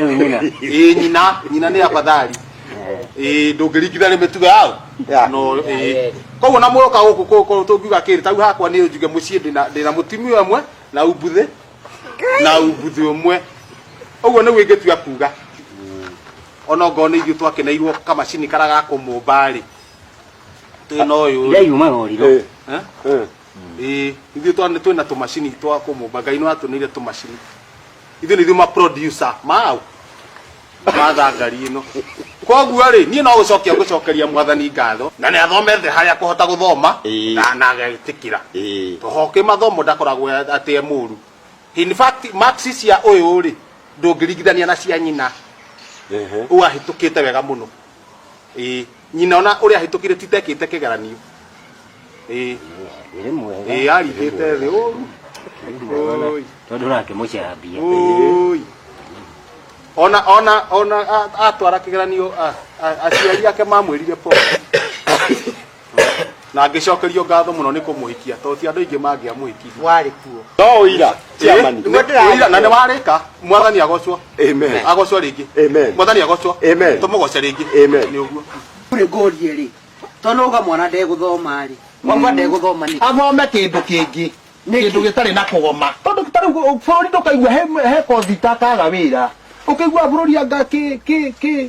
Huyu nyina. ĩ nyina nyina nĩ afadhali ĩ ndũngĩringithania mĩtugo yao Yeah. no ĩ koguo na mũroka gũkũ kũ- kũ- tũngiuga kĩrĩ tau hakwa nĩ njuge mũciĩ ndĩna ndĩna mũtumia ũmwe na umbuthĩ na umbuthĩ ũmwe ũguo nĩguo ingĩtua kuga ona ngorwo nĩ ithuĩ twakeneirwo kamacini kara ga kũmũmba rĩ twĩna ũyũ rĩ Ndaiuma roriro. Eh, Eh? eh. Ĩĩ, ithuĩ twa- nĩ twĩna tũmacini twa kũmũmba ngai nĩ watũnĩire tũmacini ithuĩ nĩ ithuĩ ma producer mau mathangari ĩno koguo rĩ niĩ no gũcokia ngũcokeria mwathani ngatho na nĩ athomete harĩa kũhota gũthoma Ĩĩ. na na agetĩkĩra Ĩĩ. tohoke mathomo ndakoragwo atĩ e mũru in fact marks cia ũyũ rĩ ndũngĩringithania na cia nyina Ehe. ũyũ ahĩtũkĩte wega mũno ĩĩ nyina ona uria hitũkire titekite kigeranio ii Ĩrĩ mwega. ii arigite thi uru Oi. Tondũ nake mũcambia. Oi. ona ona ona a- atwara kigeranio a- a- aciari ake mamwirire pole Na ngĩcokerio ngatho mũno nĩ kũmũhikia tondũ ti andũ aingĩ mangĩamũhikirie. Warĩ kuo. No ũira, Ĩĩ, chairman. nĩguo ndĩra- ũira, na nĩ warĩka mwathani agocwo Amen. agocwo rĩngĩ Amen. mwathani agocwo Amen. tũmũgoce rĩngĩ Amen. nĩ ũguo Kũrĩ ngũrie rĩ, to nauga mwana ndegũthoma rĩ, wauga ndegũthoma nĩ athome kĩndũ kĩngĩ Nĩkĩ? kĩndũ gĩtarĩ na kũgoma tondũ ta rĩu bũrũri ndũkaigua he- he kothi itakaga wĩra ũkaigua bũrũri anga kĩ- kĩ- kĩ-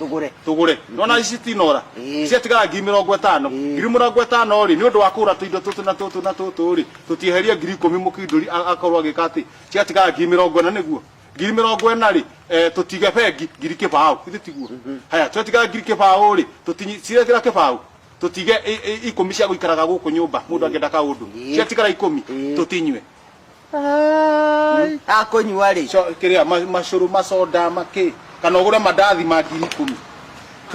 tũgũre tũgũre nona ici tinora Ĩĩ. ciatigara ngiri mĩrongo ĩtano Ĩĩ. ngiri mĩrongo ĩtano rĩ nĩ ũndũ wa kũgũra tũindo tũtũ na tũtũ na tũtũ rĩ tũtieherie ngiri ikũmi mũkindũri a- akorwo agĩka atĩ ciatigara ngiri mĩrongo ĩna nĩguo ngiri mĩrongo ĩna rĩ eh, tũtige bengi ngiri kĩbaũ ithe tiguo haya ciatigara ngiri kĩbaũ rĩ tũtinyi- cirekĩra kĩbaũ tũtige i- i- ikũmi cia gũikaraga gũkũ nyũmba mũndũ angĩenda kaũndũ Ĩĩ. ciatigara ikũmi Ĩĩ. tũtinyue Ai. akũnyua rĩ Co- kĩrĩa ma- macũrũ maconda makĩ kana ũgũre mandathi ma ngiri ikũmi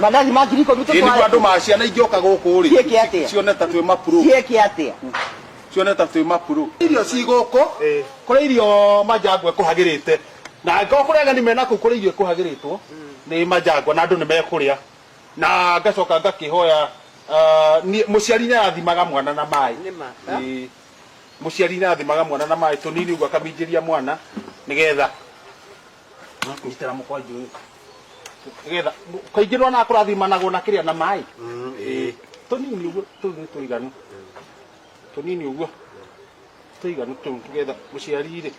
mandathi ma ngiri ikũmi Ĩ, nĩguo andũ ma ciana ingĩoka gũkũ Ciĩke rĩ atĩa? cione ta twĩ mapuro ciĩke atĩa cione ta twĩ mapuro irio ci gũkũ kũrĩ irio manjangwa ĩkũhagĩrĩte na angĩkorwo kũrĩ ageni mena kũu kũrĩ irio ĩkũhagĩrĩtwo nĩ manjangwa na andũ nĩ mekũrĩa na ngacoka ngakĩhoya ah, niĩ- mũciari nĩ arathimaga mwana na maĩ Ĩĩ. Mũciari nĩ athimaga mwana na maĩ tũnini ũguo akaminjĩria mwana nĩgetha nyitĩra mũkwanjũ ũyũ nĩgetha kaingĩ nĩ wona kũrathimanagwo na kĩrĩa na maĩ Mm, ĩĩ. tũnini ũguo tũu nĩ tũiganu tũnini ũguo tũiganu tũu nĩgetha mũciari-rĩ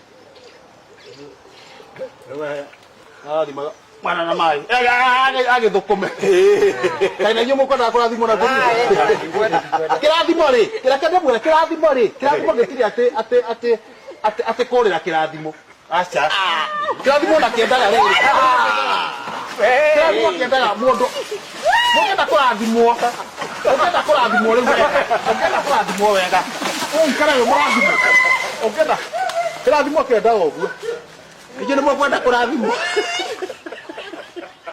mwana na maĩ agĩthũkũme kaĩ na inyuĩ mũkwendaga kũrathimwo na kĩrathimo rĩ kĩreke ndĩmwĩre kĩrathimo rĩ kĩrathimo gĩtirĩ atĩ atĩ atĩ atĩ atĩ kũrĩra kĩrathimo aca kĩrathimo na kĩendaga rĩrĩ kĩrathimo kĩendaga mũndũ Mũngĩenda kũrathimwo, ũngĩenda kũrathimwo rĩu wega, ũngĩenda kũrathimwo wega, ũikare wĩ mũrathimwo. Ũngĩenda kĩrathimo kĩendaga ũguo. Inyuĩ nĩ mũkwenda kũrathimwo?